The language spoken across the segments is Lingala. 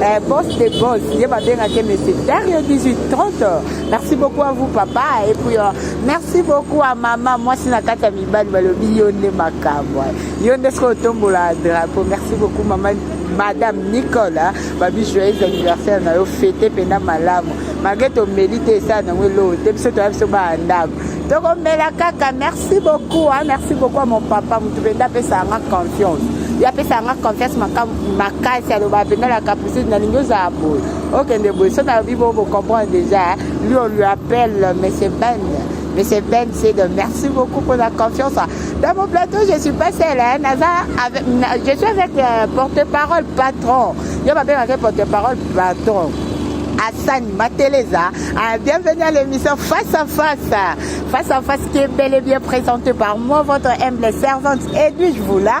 Eh, boss de boss, ye babenga ke monsieur Dario 1830. Merci beaucoup à vous papa et puis euh, merci beaucoup à maman mwasi na kati ya mibali balobi yo nde makambo yo nde soki otombola drapeau merci beaucoup mama madame nicole hein. babi joyeux anniversaire na yo fete mpena malamu malgre tomeli te esala nango eloo te biso toya biso baa ndako tokomela kaka merci beaucoup hein. merci beaucoup à mon papa motu mpenza apesaka nga confiance ye apesaka nga confiance makambo makasi aloba mpenza la capricide nalingi ozala boye okende boye so nalobi bo bocomprendre déjà lui on lui appelle monsieur ben monsieur ben sedo merci beaucoup pour la confiance dans mon plateau je suis pas seule hein, naza avec, na, je suis avec euh, porte parole patron yo babengaka porte parole patron Assani Mateleza. Ah, bienvenue à l'émission Face à Face. Face à Face qui est bel et bien présentée par moi, votre humble servante Edwige Voula.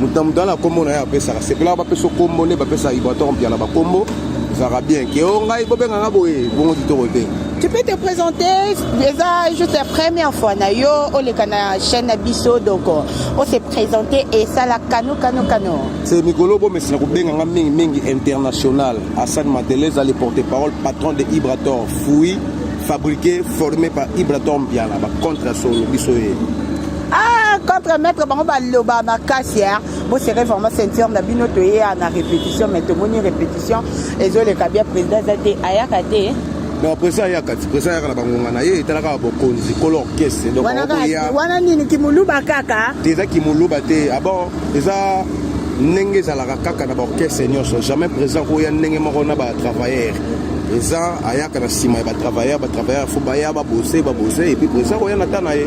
moto na moto ana nkombo na ye apesaka sepelaka bapesa nkombo nde bapesaka ibrator mpiana bankombo ezalaka bien ke o ngai bobenga nga boye bongo kitoko te Tu peux te présenter, déjà juste la première fois na yo oleka na chaîne na biso donc on oh, s'est présenté et ça la kano kano kano. C'est Mikolo Bomesina kobenga nga mingi mingi international. Hassan Madelez le porte-parole patron de Ibrator Fouille fabriqué formé par Ibrator Mbiala ba contre solo biso ye. Ah, contre maître bango baloba makasi hein. Bo serrez vraiment ceinture na bino toye na répétition mais tomoni répétition ezoleka bien président eza te ayaka te donc presa ayaka ti presa ayaka na bangonga na ye etalaka bokonzi kolo orchestre donc Wana kaka- okoya wana nini kimuluba kaka te eza kimuluba te abon eza ndenge ezalaka kaka na baorchestre nyonso jamais présent koya ndenge moko na batravailleur présent ayaka na nsima ya batravailleur batravailleur fo baya babose babose epuis présent koya na ta na ye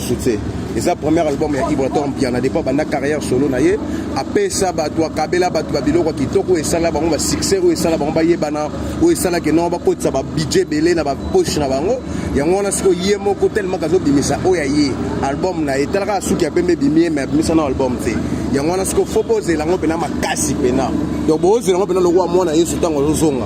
succès eza première album ya ibrator mpiana depa banda carrière solo na ye apesa bato akabela bato ba biloko kitoko oyo esala bango basuccès oyo esala bango bayebana oyo esalaki nao bakotisa babudget ebele na bapoche na bango yango wana sikoyo ye moko telemaka azobimisa oyo ya ye album na ye talaka suki ya pembe ebimi ye me abimisa na album te yango wana sikoyo fo bozela yango mpena makasi mpena donc bozela yango mpena lokola mwana yesu ntango azozonga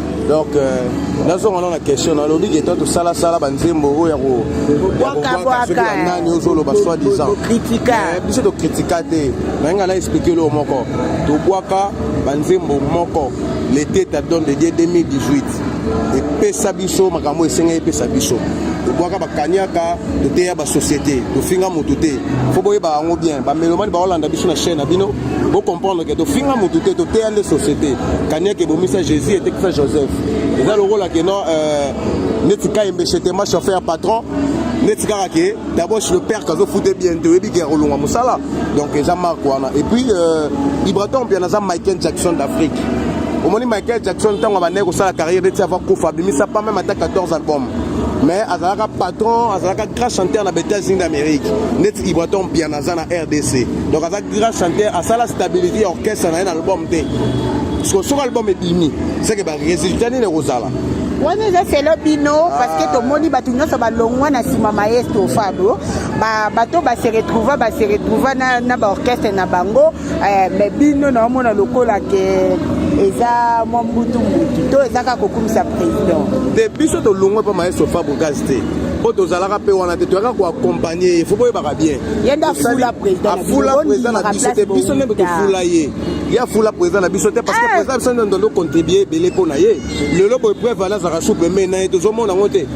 donc euh, nazonga nano na question nalobi ke to tosalasala banzembo oyo ya kobwakanani ozoloba soi disant eh, biso tokritika te naye ngai na explike loo moko tobwaka banzembo moko lete tadon de die 2018 epesa biso makambo esengai epesa biso tobwaka bakaniaka toteya basociété tofinga motu te fo boyeba yango bien bamelomani baolanda biso na chaine na bino Bo comprendre que tofinga motu te toteya nde société kaniaka ebomisa jésus etekisa joseph eza lokola ke non euh, neti kayembe chetema chauffeur ya patron neti kaka ke d'abord chez le père kazofute bien te oyebi ke akolonga mosala donc eza marque wana et puis euh, ibraton bien aza michael jackson d'afrique omoni michael jackson ntango abandaki kosala carrière neti ava kufa abimisa pa meme ata 14 album mais azalaka patron azalaka grand chanteur na ba états-unis d'amérique neti ibraton piana aza na rdc donc aza grand chanteur asala stabilité ya orchestre na ye na album te parceke soki album ebimi seke baresultat nini ekozala wana eza selo bino parceke ah. tomoni bato nyonso balongwa na nsima maestro fabro bato baseretrouva baseretrouva na baorchestre na bango Eh, me bino naomona lokola ke eza mwa mbutu mbutu to eza kaka kokumisa président te biso tolongwe mpo maestro fabrigas te mpo tozalaka mpe wana te toyaka koakompagne ye fo boyebaka bien afula président na biso te biso nde tofula ye ye afula président na biso te parce que eh. président biso nde ndondo contribue ebele mpo na ye lelo boye preuve wana azalaka su pembeni na ye tozomona yango te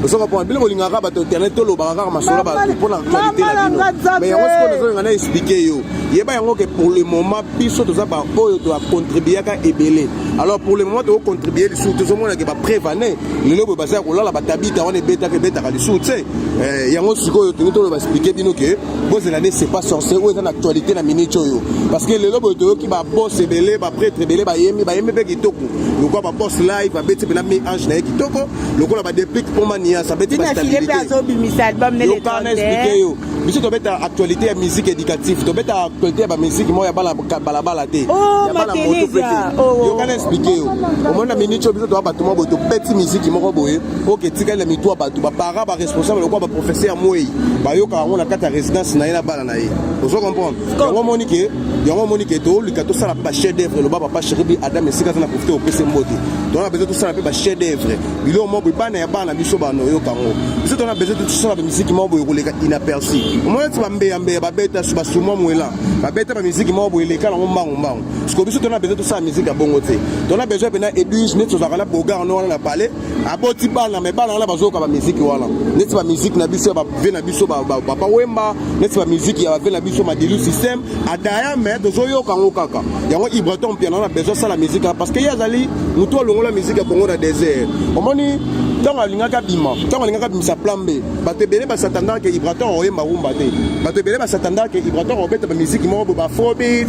osoka mpona bino bolingaka bato internet tolobaka kaka masolo bato mpona actualité na bino me yango sikoyo nazolinga na explike yo yeba yango ke pour le moment biso toza baoyo toacontribuaka ebele alors pour le moment tokocontribue lisusu tozomonake bapreuve ane lelo boye bazala kolala batabita wana ebetaka ebetaka lisusu te eh, yango sikoyo tolingi toloba explike bino ke bozela nde sepa sorce oyo eza na actualité na minute oyo parce que lelo boye toyoki babos ebele bapretre ebele bayembi bayembi mpe kitoko lokola ba boss live abeti pena mi ange na ye kitoko lokola ba deplic mpo manias abeti ba stabilité azobimisa album nele yoka na expliquer yo biso tobeta actualité ya musique éducative tobeta actualité ya ba musique moko ya bala bala bala te oh, ya bala moto pe te oh, oh. yoka na expliquer yo omona minute oyo biso toa bato moko boye tobeti musique moko boye oke etikali na mitu ya bato ba parents ba responsable lokola ba professeur ya mwei bayokaka yango na kati ya résidence na ye na bana na ye ozo comprendre yango omoni ke yango omoni ke tolika tosala mpe bachef d'œuvre loba papa cheribi adam esika aza na profite kopesa mbote tona besoin tosala mpe bachef d'œuvre biloko moko boye bana ya bana biso bana oyoka yango biso tona besoin tosala bamiziki moko boye koleka inaperci omoni ti bambeyambeya babeta basumwa mwela babeta bamiziki moko boye eleka yango mbangu mbangu siko biso tona besoin tosala miziki ya bongo te tona besoin mpena edwige neti tozalaka na bogar no wana na palais aboti bana me bana wana bazoyoka bamiziki wana neti bamiziki na biso ya bave na biso papa wemba neti bamiziki ya bave na biso madilu système adaya me tozoyoka yango kaka yango ibraton mpiana wana besoin asala miziki wana parce que ye azali motu alongola miziki ya kongo na desert omoni ntango alingaki abima ntango alingaki abimisa plan b bato ebele basatandaka ke ibraton oyemba rumba te bato ebele basatandaka ke ibraton obeta bamiziki moko bo bafrobit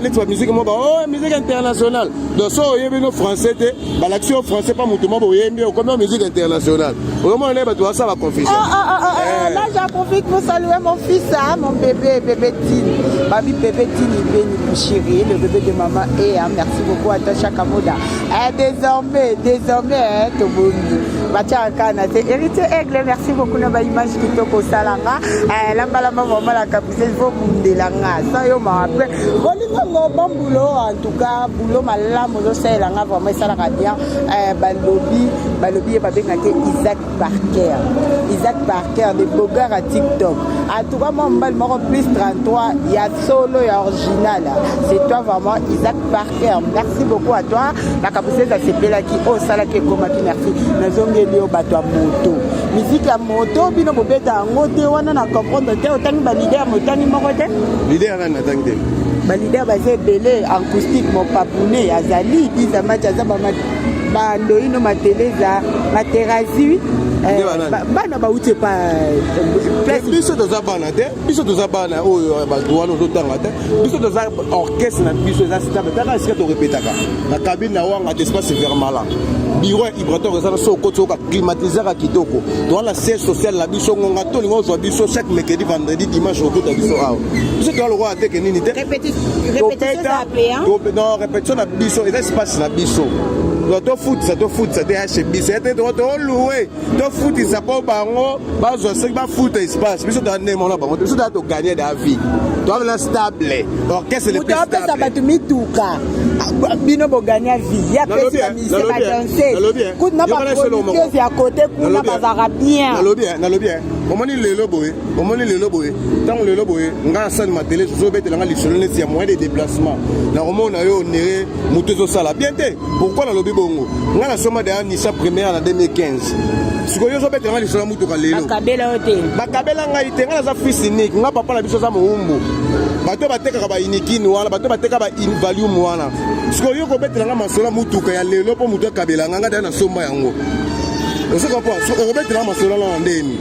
neti bamiziki moko ba o oh, miziki international donc so oyebino français te balakisi yo français pa moto mwa boyembi okomi yo musique internationale oyomona naye bato basala baconfusion ah, ah, ah, eh. là j'en profite pour saluer mon fils hein, mon bébé bébé tini babi bébé tini beni mon chéri le bébé de maman e hein, merci beaucoup ata chaka moda eh, désormais désormais hein, tobongi batiaka kaka na te héritier aigle merci beaucoup na baimage kitoko osala nga eh, lambalamba vraiment la capitale vobundela nga sa yo mawa mpe bolingongo bambulo en tout cas boulot malamu ozosalela nga vraiment esalaka bien eh, balobi balobi ye babenga te isaac barker isaac barker de bogar ya tiktok atuka mwa mobali moko plus 33 ya solo ya original c'est toi vraiment isaac barker merci beaucoup à toi makambo sese asepelaki oyo osalaki ekomaki merci nazongeli yo bato ya moto miziki ya moto bino bobeta yango te wana na comprendre te otangi balider motangi moko te balider baza ebele acoustique mopapune azali biza match aza bandoino mateleza materazui Eh, bana bauti epa eh, biso toza bana te biso toza bana oyo eh, bato wana ozotanga te biso toza orchestre na biso eza stable taka esika torepetaka na kabine na wanga te espace vermala biro ya ibrator eza na so okoti oyoka climatisaka kitoko towana siège social na biso ngonga tolinga ozwa biso chaque mercredi vendredi dimanche okota biso awa biso toya lokola teke nini te non répétition na biso eza espace na biso tofutisa tofutisa te ya chez biso ya te tolue tofutisa mpo bango bazwa soki bafuta espace biso toya ndenge mona bango te biso toya toganye da vie toamela stable orchestre le plus stable apesa bato mituka bino boganya vie ya pesi ya mise badanse kuna baproducteuse ya kote kuna bazalaka bien nalobi nalobi omoni lelo boye omoni lelo boye ntango lelo boye ngai asani matele zozobetela ngai lisolo neti ya moyen de déplacement nakomona yo onere moto ezosala bien te pourkui nalobi bongo ngai nasoma daya nisa première na 2015 sikoyo ozobetela ngai lisolo ya motuka lelo bakabela yo te bakabela ngai te ngai naza fils unique ngai papa na biso aza mowumbu bato batekaka bainikini wana bato bateka bainvalium wana sikoyo yo kobetela ngai masolo ya motuka ya lelo mpo moto akabela ngai ngai dai nasomba yango ozokopa okobetela ngai masolo wana ndeni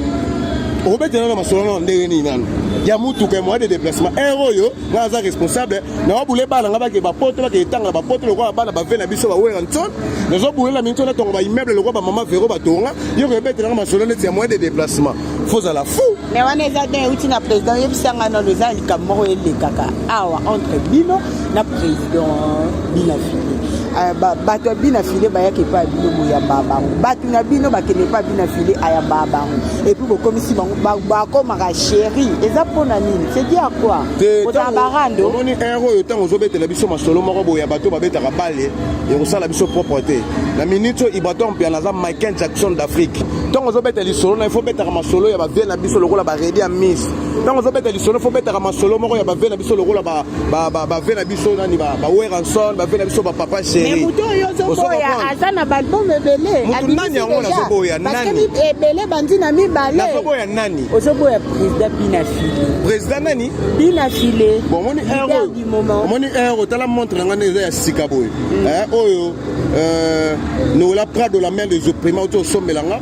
okobetela na masolo nano ndenge nini nano ya motuka ya moyen de déplacement heure oyo nga aza responsable nawabule bana nga bake bapoto bake etanga na bapoto lokola bana bave na biso baweranson nazobulela minso natonga baimmeuble lokola bamama vero batonga yo koyebetela nga masolo neti ya moyen de déplacement fozala fou me wana eza te euti na président oyebisanga nano eza likambo moko elekaka awa entre bino na président bina file eh, bato ya bina file bayaka epai ya bino boyambaa bango bato na bino bakende epai ya bina file ayambaa bango epuis bokomisi bango bakomaka sheri eza mpo na nini sedi ya kwa kozala barando omoni ere oyo ntango ozobetela biso masolo moko boye ya bato babetaka bale ekosala biso propre te na minute oyo ibrator mpiana aza michael jackson d'afrique ntango ozobeta lisolo na ifo obetaka masolo ya bavie na biso lokola baredi ya miss ntango ozobeta lisolo fo obetaka masolo moko ya bave na biso lokola bave na biso nani baweranson bave na biso bapapa sherimutu oyo ozoboya aza na baalbum ebele mutu nani yango nazoboya nani ebele bandi na mibale nazoboya nani ozoboya président binafile président nani binafile omoni heure omoni heure otala montre na ngai nde eza ya sika boye mm. eh, oyo euh, nola prado la mère des opprima oti osombela nga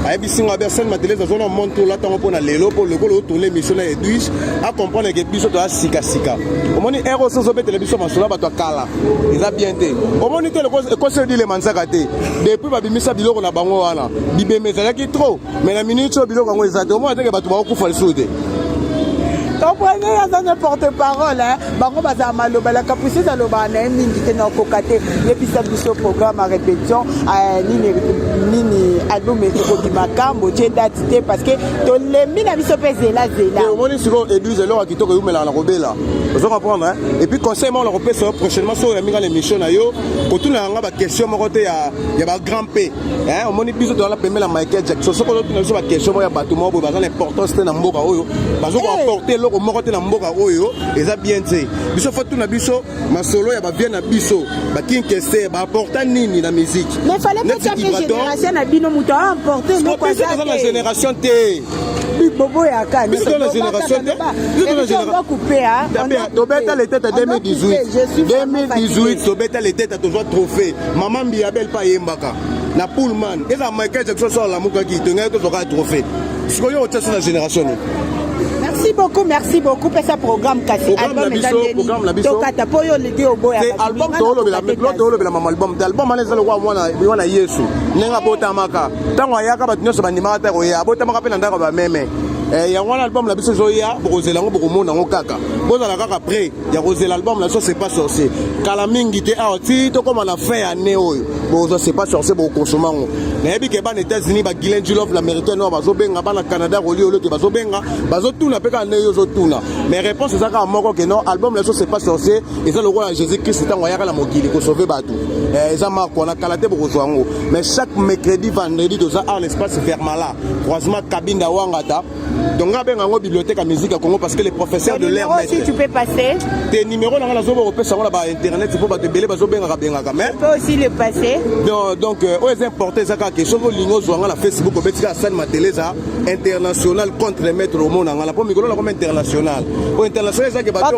ayebisi ngai abe asali matelese azona montre olata yango mpo na lelo mpo lokola otourne émission na edwige acomprendre ke biso toya sikasika omoni ero osi ozobetela biso masolo ya bato ya kala eza bien te omoni te ekosi odile manzaka te depuis babimisa biloko na bango wana bibembe ezalaki trop mais na minute oyo biloko yango eza te omona teke bato bakokufa lisusu te comprenez aza ne porte parole bango bazala maloba la capriceuse alobaka na ye mingi te nakoka te yebisa biso programme a répétition eh, nini nini album ekobima kambo tie date te parce que tolembi na biso mpe zela zela eh, omoni sikoyo eduse eloko ya kitoko eumelaka na kobela ozo comprendre hein? et puis conseil moko nakopesa yo prochainement soki oyambi nga na émission na yo kotuna yanga baquestion moko te ya bagrand p Eh, omoni biso toza na pembe na michael jackson soki ozotuna biso bakestion moko ya bato moko boye baza na importance te na mboka oyo bazo koapporte eh. eloko moko te na mboka oyo eza bien te biso fo tuna biso masolo ya bavie na biso bakinkese baapporta nini na miziki na génération te boboyaka tobeta letete 2018 tobeta letete tozwa trophée mama mbiyabel mpe ayembaka na pullman ezala michael jackson so alamukaki tongaki tozwaka trophée sikoyo otia so na génération nini merci beaucoup merci beaucoup pesa programme kasi album eza ndeni tokata mpo yo oleki oboya album toolobela mama album te album wana eza lokola mwana yesu ndenge abotamaka ntango ayaka bato nyonso bandimaka te koya abotamaka mpe na ndako ya bameme eh, yango wana album na biso ezoya bokozela yango bokomona yango kaka bozala kaka près ya kozela album na biso sepa sorcier kala mingi te awa ti tokóma na fin ya année oyo bokozwa sepa sorcier bokokonsoma yango nayebi ke bana états-unis bagilen julov na meritain oyo bazobenga bana canada koliolo te bazobenga bazotuna mpe kaka ndenge yo ozotuna mais réponse eza kaka moko ke non album na biso sepa sorcier eza lokola jésus christ ntango ayaka na mokili kosauve bato eh, eza marko wana kala te bokozwa yango mais chaque mercredi vendredi toza ar l'espace vermala croisement kabinda wangata donc nga abenga yango bibliothèque ya musique ya congo parce que les professeurs de l'air maître tu peux passer te numéro na nga nazoba kopesa yango na ba internet mpo bato ebele bazobengaka bengaka mais peut aussi le passer donc, donc euh, oyo eza importe eza kaka ke soki olingi ozwa nga na facebook obeti kaka sani matele eza international contre maître omona nga na mpo mikolo na koma international oyo international eza ke bato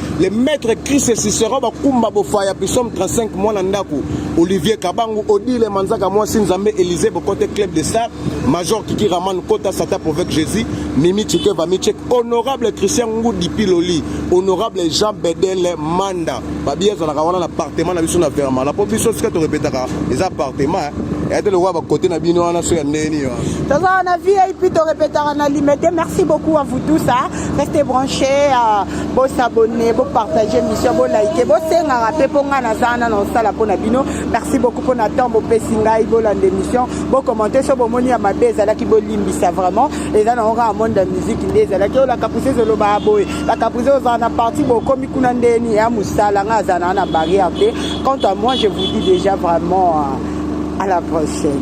le maître Christ Cicero bakumba bofaya pisome 35 mwana ndako Olivier Kabangu Odile Manzaka mwasi Nzambe Elise Bokote Club de Star Major Kiki Raman Kota Sata Provoque Jésus Mimi Chike Vamichek Honorable Christian Ngudi Piloli Honorable Jean Bedel Manda babi ezalaka wana na appartement na biso na Verma na po biso sika torepetaka eza appartement ete lokola bakote na bino wana so ya ndenge nini wana toza wana vip torepetaka na limete merci beaucoup à vous tous hein. restez branchés euh... bo s'abonner bo partager mission bo liker bo sengaka mpe mpo ngai naza wana na osala mpo na bino merci beaucoup mpo na temps bopesi ngai bolanda émission bo commente so bomoni ya mabe ezalaki bolimbisa vraiment eza nango kaka monde ya musique nde ezalaki oyo lakapuse ezolobaka boye lakapuse ozala na parti bokomi kuna ndeni ya mosala ngai azala na barrière te quant à moi je vous dis déjà vraiment euh, à la prochaine